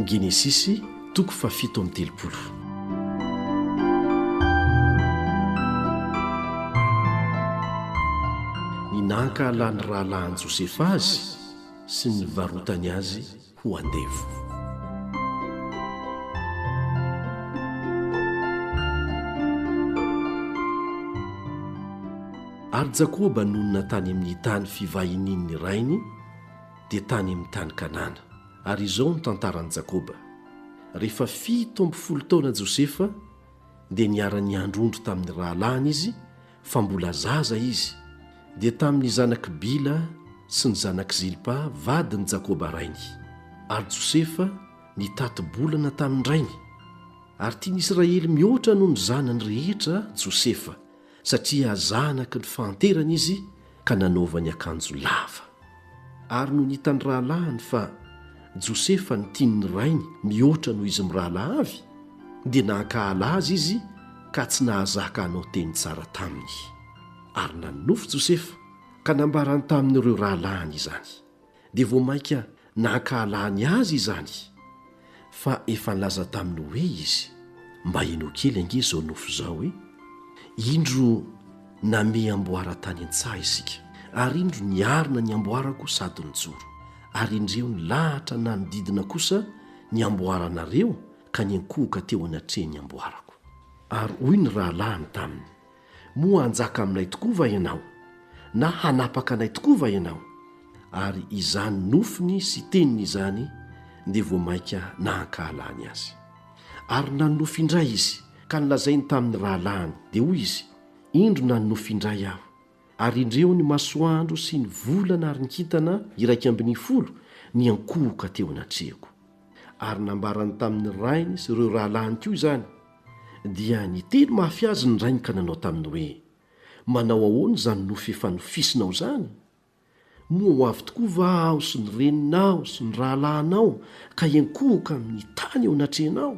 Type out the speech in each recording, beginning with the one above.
Genesisy toko fahafito amby telopolo. Ny nahankahalan'ny rahalahin'i Josefa azy sy ny nivarotany azy ho andevo. Ary Jakoba nonina tany amin'ny tany fivahinian'ny rainy, dia tany amin'ny tany Kanana. Ary izao no tantaran'i Jakoba, Rehefa fito amby folo taona Josefa, dia niara-niandry ondry tamin'ny rahalahiny izy, fa mbola zaza izy, dia tamin'ny zanak'i Bila sy ny zanak'i Zilpa vadin'i Jakoba rainy. Ary Josefa nitati-bolana tamin-drainy. Ary tian'ny Israely mihoatra noho ny zanany rehetra Josefa, satria zanaky ny fahanterana izy, ka nanaovany akanjo lava. Ary nony hitan'ny rahalahiny fa Josefa no tian'ny rainy mihoatra noho izy mirahalahy avy, dia nankahala azy izy ka tsy nahazaka hanao teny tsara taminy. Ary nanonofy Josefa ka nambarany tamin'ireo rahalahiny izany. dia vao mainka nankahalany azy izany, fa efa nilaza taminy hoe izy, Mba inoa kely ange izao nofy izao e! Indro namehy amboara tany an-tsaha isika, ary indro niarina ny amboarako sady nijoro, ary indreo nilahatra nanodidina kosa ny amboaranareo ka niankohoka teo anatrehan'ny amboarako. Ary hoy ny rahalahiny taminy, Moa hanjaka aminay tokoa va ianao? Na hanapaka anay tokoa va ianao? Ary izany nofiny sy teniny izany dia vao mainka nahankahalany azy. Ary nanonofy indray izy, ka nolazainy tamin'ny rahalahiny, dia hoy izy, Indro nanonofy indray aho, ary indreo ny masoandro sy ny volana ary ny kintana iraika ambin'ny folo niankohoka teo anatrehako. ary nambarany tamin'ny rainy sy ireo rahalahiny koa izany, dia niteny mafy azy ny rainy ka nanao taminy hoe, Manao ahoana izany nofy efa nofisinao izany? Moa ho avy tokoa va aho sy ny reninao sy ny rahalahinao ka hiankohoka amin'ny tany eo anatrehanao?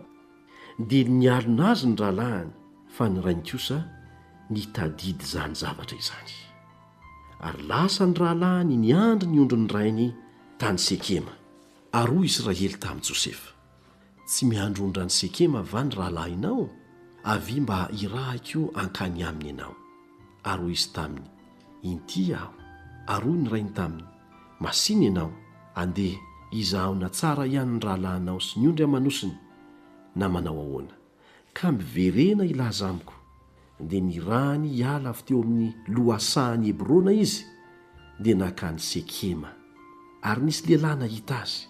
Dia nialona azy ny rahalahiny, fa ny rainy kosa nitadidy izany zavatra izany. Ary lasa ny rahalahiny niandry ny ondrin'ny rainy tany Sekema. Ary hoy Israely tamin'i Josefa, Tsy miandry ondran'i Sekema va ny rahalahinao? Avia mba hirahiko hankany aminy ianao. Ary hoy izy taminy, Inty aho. Ary hoy ny rainy taminy, Masìna ianao, andeha, izahaona tsara ihany ny rahalahinao sy ny ondry aman'osiny, na manao ahoana. ka miverena hilaza amiko. Dia nirahany hiala avy teo amin'ny lohasahan'i Hebrona izy, dia nankany Sekema. Ary nisy lehilahy nahita azy,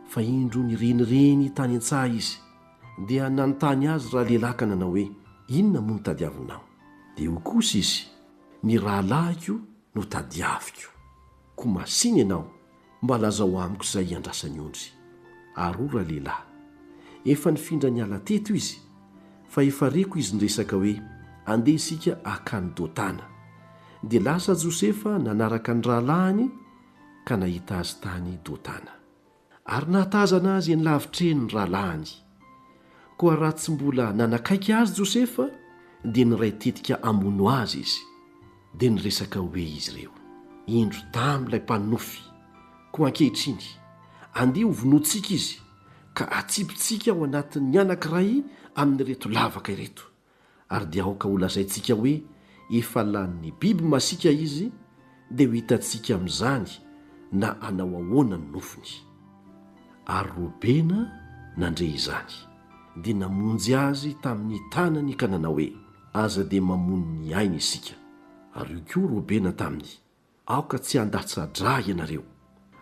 fa indro nirenireny tany an-tsaha izy, dia nanontany azy ralehilahy ka nanao hoe, Inona moa no tadiavinao? Dia hoy kosa izy, Ny rahalahiko no tadiaviko. Koa masìna ianao, Mba lazao amiko izay iandrasan'i Ondry. Aroa ralehilahy. Efa nifindra niala teto izy, fa efa reko izy niresaka hoe andeha isika hakany Dotana. Dia lasa Josefa nanaraka ny rahalahiny ka nahita azy tany Dotana. Ary nahatazana azy eny lavitra eny ny rahalahiny. Koa raha tsy mbola nanakaiky azy Josefa, dia niray tetika hamono azy izy. Dia niresaka hoe izy ireo, Indro damy ilay mpanonofy, koa ankehitriny, andeha hovonointsika izy, ka atsipintsika ao anatin'ny anankiray amin'ireto lavaka ireto, ary dia aoka holazaintsika hoe efa lanin'ny biby masiaka izy, dia ho hitantsika amin'izany na hanao ahoana ny nofony. Ary Robena nandre izany, dia namonjy azy tamin'ny tanany ka nanao hoe. Aza dia mamono ny aina isika. Ary hoy koa Robena taminy, Aoka tsy handatsa-dra ianareo.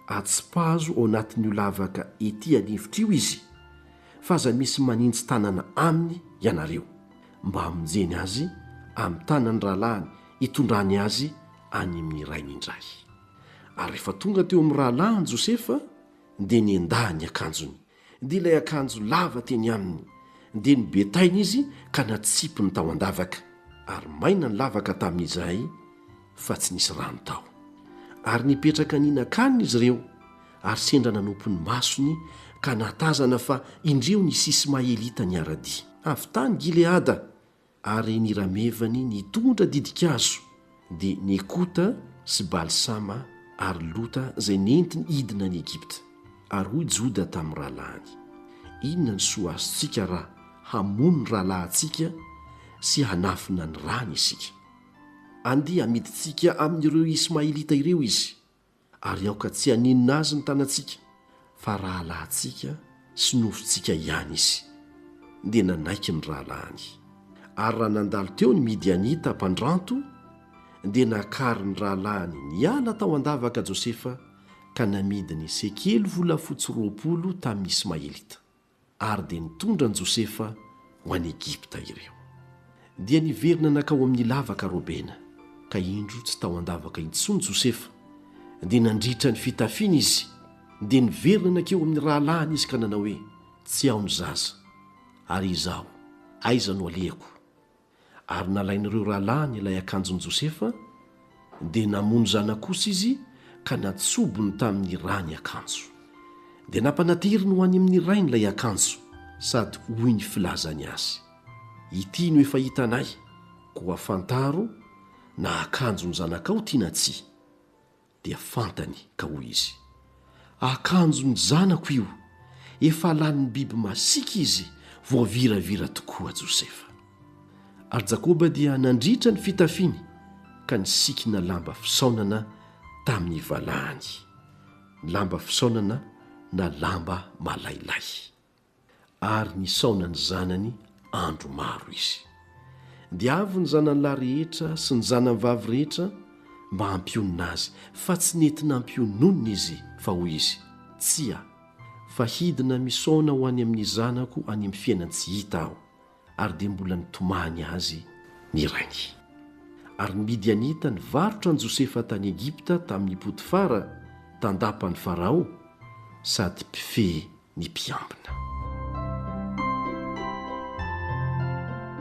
Atsipazo ao anatin'io lavaka ety an'efitra io izy, fa aza misy manintsy tanana aminy ianareo, mba hamonjeny azy amin'ny tanan'ny rahalahiny hitondrany azy any amin'ny rainy indray. Ary rehefa tonga teo amin'ny rahalahiny Josefa, dia nendahany ny akanjony, Dia ilay akanjo lava teny aminy. Dia nobetaina izy ka natsipiny tao an-davaka, ary maina ny lavaka tamin'izay fa tsy nisy rano tao. Ary nipetraka nihinan-kanina izy ireo, ary sendra nanopy ny masony ka nahatazana fa indreo ny Isimaelita niara-dia, avy tany Gileada, Ary ny ramevany nitondra didin-kazo, dia Nekota sy Balsama ary Lota izay nentiny hidina any Egypta. Ary hoy Joda tamin'ny rahalahiny, Inona no soa azontsika raha hamono ny rahalahintsika sy hanafina ny rany isika? Andeha hamidintsika amin'ireo Ismaelita ireo izy, ary aoka tsy haninona azy ny tanantsika fa rahalahintsika sy nofontsika ihany izy. Dia nanaiky ny rahalahiny. Ary raha nandalo teo ny Midianita mpandranto, dia nakarin'ny rahalahiny niala tao an-davaka Josefa ka namidiny sekely volafotsy roapolo tamin'ny Ismaelita. Ary dia nitondra an'i Josefa ho any Egypta ireo. Dia niverina nankao amin'ny lavaka Robena, ka indro tsy tao an-davaka intsony Josefa, dia nandritra ny fitafiany izy, dia niverina nankeo amin'ny rahalahiny izy ka nanao hoe, Tsy ao ny zaza. Ary izaho, aiza no alehako? ary nalain'ireo rahalahiny ilay akanjon'i Josefa, dia namono zanak'osy izy ka natsobony tamin'ny rà ny akanjo. Dia nampanateriny ho any amin'ny rainy ilay akanjo, sady hoy ny filazany azy, Ity no efa hitanay, koa fantaro na akanjon'ny zanakao ity na tsia. dia fantany ka hoy izy, Akanjon'ny zanako io, efa lanin'ny biby masiaka izy, voaviravira tokoa Josefa. Ary Jakoba dia nandritra ny fitafiny ka nisikina lamba fisaonana tamin'ny valahany, lamba fisaonana na lamba malailay. Ary nisaona ny zanany andro maro izy. Dia avy ny zanany lahy rehetra sy ny zanany vavy rehetra mba hampionona azy, fa tsy nety nampiononina izy, fa hoy izy, Tsia, fa hidina misaona ho any amin'ny zanako any amin'ny fiainan-tsy hita aho, Ary dia mbola nitomany azy ny rainy. Ary ny Midianita nivarotra an'i Josefa tany Egypta tamin'i Potifara, tandapan'i Farao, sady mpifehy ny mpiambina.